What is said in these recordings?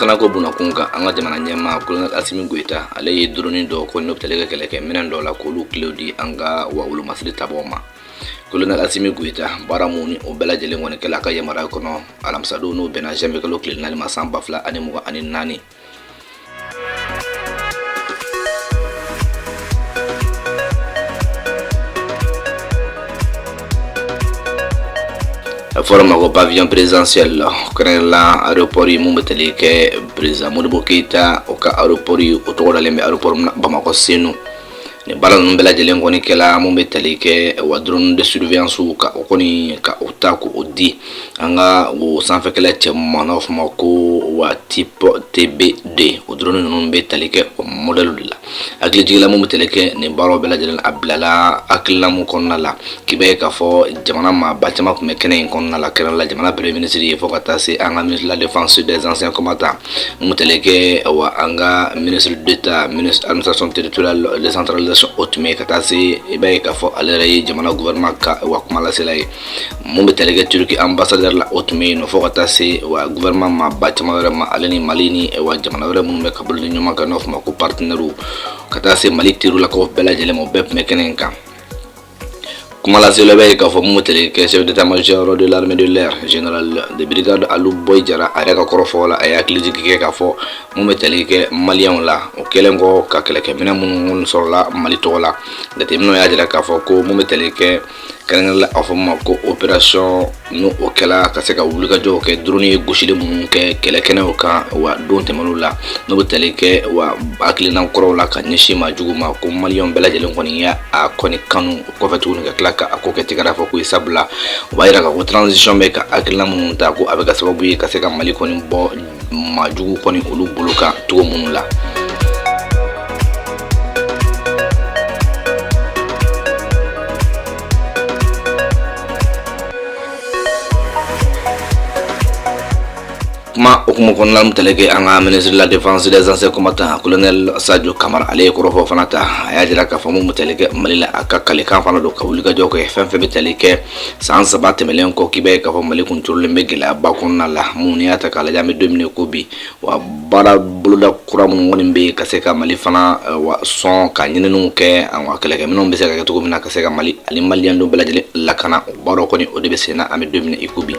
lakanako bunda kunkan an ka jamana ɲɛmaa kolonɛl asimi goyita ale ye drone dɔ ko n'o bɛ tali kɛ kɛlɛkɛ minɛn dɔ la k'olu kilew di an ka wa wolomasiri tabaw ma kolonɛl asimi goyita baara mun ni o bɛɛ lajɛlen kɔni kɛla a ka yamaruya kɔnɔ alamisadon n'o bɛnna janvier kalo tile naani ma san ba fila ani mugan ani naani fɔra ma ko pavillon présidentiel kɛrɛnkɛrɛnla aéroport ye mun bɛ tali kɛ président modibo keyita o ka aéroport ye o tɔgɔ dalen bɛ aéroport bamakɔ senu ni baara ninnu bɛɛ lajɛlen kɔni kɛla mun bɛ tali kɛ wa drone de surveillance ka o kɔni ka o ta ko o di an ka o sanfɛkɛlɛcɛw ma n'a fɔ ma ko wa type tb deux o drone ninnu bɛ tali kɛ o modèle de la hakilijigin la mun bɛ tali kɛ nin baaraw bɛɛ lajɛlen a bilala hakilina mun kɔnɔna la k'i bɛ k'a fɔ jamana maaba caman tun bɛ kɛnɛ in kɔnɔna la kɛrɛnkɛrɛnla jamana premier ministre ye fo ka taa se an ka ministre de la défense des anciens combattants mun bɛ tali kɛ wa an ka ministre d'état ministre administration territoriale décentralisation o tun bɛ ka taa se i b'a ye k'a fɔ ale yɛrɛ ye jamana gouvernement ka wa kuma lasela ye mun bɛ tali kɛ turki ambassadeur la o tun bɛ yen nɔ fo ka taa se wa gouvernement maaba caman wɛrɛ ma ale ni mali ni wa jamana wɛrɛ minnu bɛ ka bolo di ɲɔgɔn kan n'o fɔ ma ko partenaires ka taa se mali terilakaw bɛɛ lajɛlen ma o bɛɛ tun bɛ kɛnɛ in kan Kuma lasela bɛ k'a fɔ mun bɛ tali kɛ chef d'état-major de l'armée de l'air général de brigade alu boyi jara a yɛrɛ ka kɔrɔfɔ la a ye hakilijigin kɛ k'a fɔ mun bɛ tali kɛ maliyɛnw la o kɛlen kɔ ka kɛlɛkɛminɛn minnu sɔrɔla mali tɔgɔ la jateminɛw y'a jira k'a fɔ ko mun bɛ tali kɛ kɛrɛnkɛrɛnla a fɔ ma ko opération n'o o kɛla ka se ka wulikajɔw kɛ drone ye gosili minnu kɛ kɛlɛkɛnɛw kan wa don tɛmɛnenw la n'o bɛ tali kɛ wa hakilina kɔrɔw la ka ɲɛsin maa jugu ma ko maliyɛnw bɛɛ lajɛlen kɔni ye a kɔni kanu o kɔfɛ tuguni ka tila ka a ko kɛ tɛgɛrɛfɔko ye sabula o b'a yira k'a fɔ transition bɛ ka hakilina minnu ta ko a bɛ kɛ sababu ye ka se ka mali kɔni bɔ maa jugu kɔni olu bolo kan cogo minnu la kuma o kuma kɔnɔna min tali kɛ an ka ministre de la défense des anciens combattants colonel sadio kamara ale ye kɔrɔfɔ fana ta a y'a jira k'a fɔ mun bɛ tali kɛ mali la a ka kalikan fana don ka wulikajɔ kɛ fɛn fɛn bɛ tali kɛ san saba tɛmɛlen kɔ k'i b'a ye k'a fɔ mali kun turulen bɛ gɛlɛyaba kɔnɔna la mun n'i y'a ta k'a lajɛ an bɛ don min i ko bi wa baara boloda kura minnu kɔni bɛ ka se ka mali fana wa sɔn ka ɲininiw kɛ an ka kɛlɛkɛminɛnw bɛ se ka kɛ cogo min na ka se ka mali ani maliyɛn denw bɛɛ lajɛlen lakana o baaraw kɔni o de bɛ sen na an bɛ don min i ko bi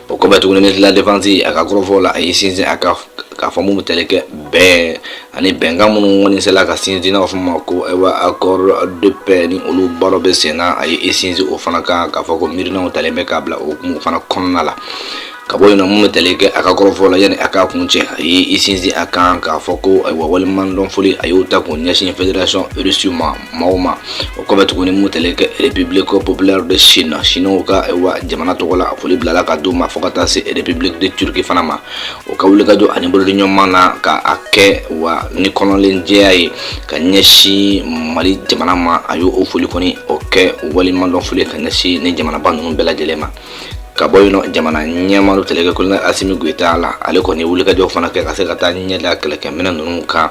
o kɔfɛ tuguni ministre de la défense a ka kɔrɔfɔ la a y'i sinsin a kan k'a fɔ mun bɛ tali kɛ bɛn ani bɛnkan minnu kɔni sela ka sinsin n'a fɔ ma ko ayiwa accord de paix ni olu baaraw bɛ sen na a ye i sinsin o fana kan k'a fɔ ko miirinaw talen bɛ k'a bila o hukumu fana kɔnɔna la ka bɔ yen nɔ mun bɛ tali kɛ a ka kɔrɔfɔ la yanni a k'a kun cɛ a ye i sinsin a kan k'a fɔ ko ayiwa waleɲumandɔn foli a y'o ta k'o ɲɛsin fédération russe ma maaw ma o kɔfɛ tuguni mun tali kɛ république populaire de chine chinow ka wa jamana tɔgɔ la foli bilala ka d'u ma fo ka taa se république de turquie fana ma u ka wulikajɔ ani bolodiɲɔgɔnma na ka a kɛ wa ni kɔnɔnajɛya ye ka ɲɛsin mali jamana ma a y'o o foli kɔni o kɛ waleɲumandɔn foli ka ɲɛsin nin jamanaba ninnu bɛɛ lajɛlen ma ka bɔ yen nɔ jamana ɲɛmaa o tali kɛ kolonɛli asimi goyita la ale kɔni ye wulikajɔ fana kɛ ka se ka taa ɲɛ da kɛlɛkɛminɛn ninnu kan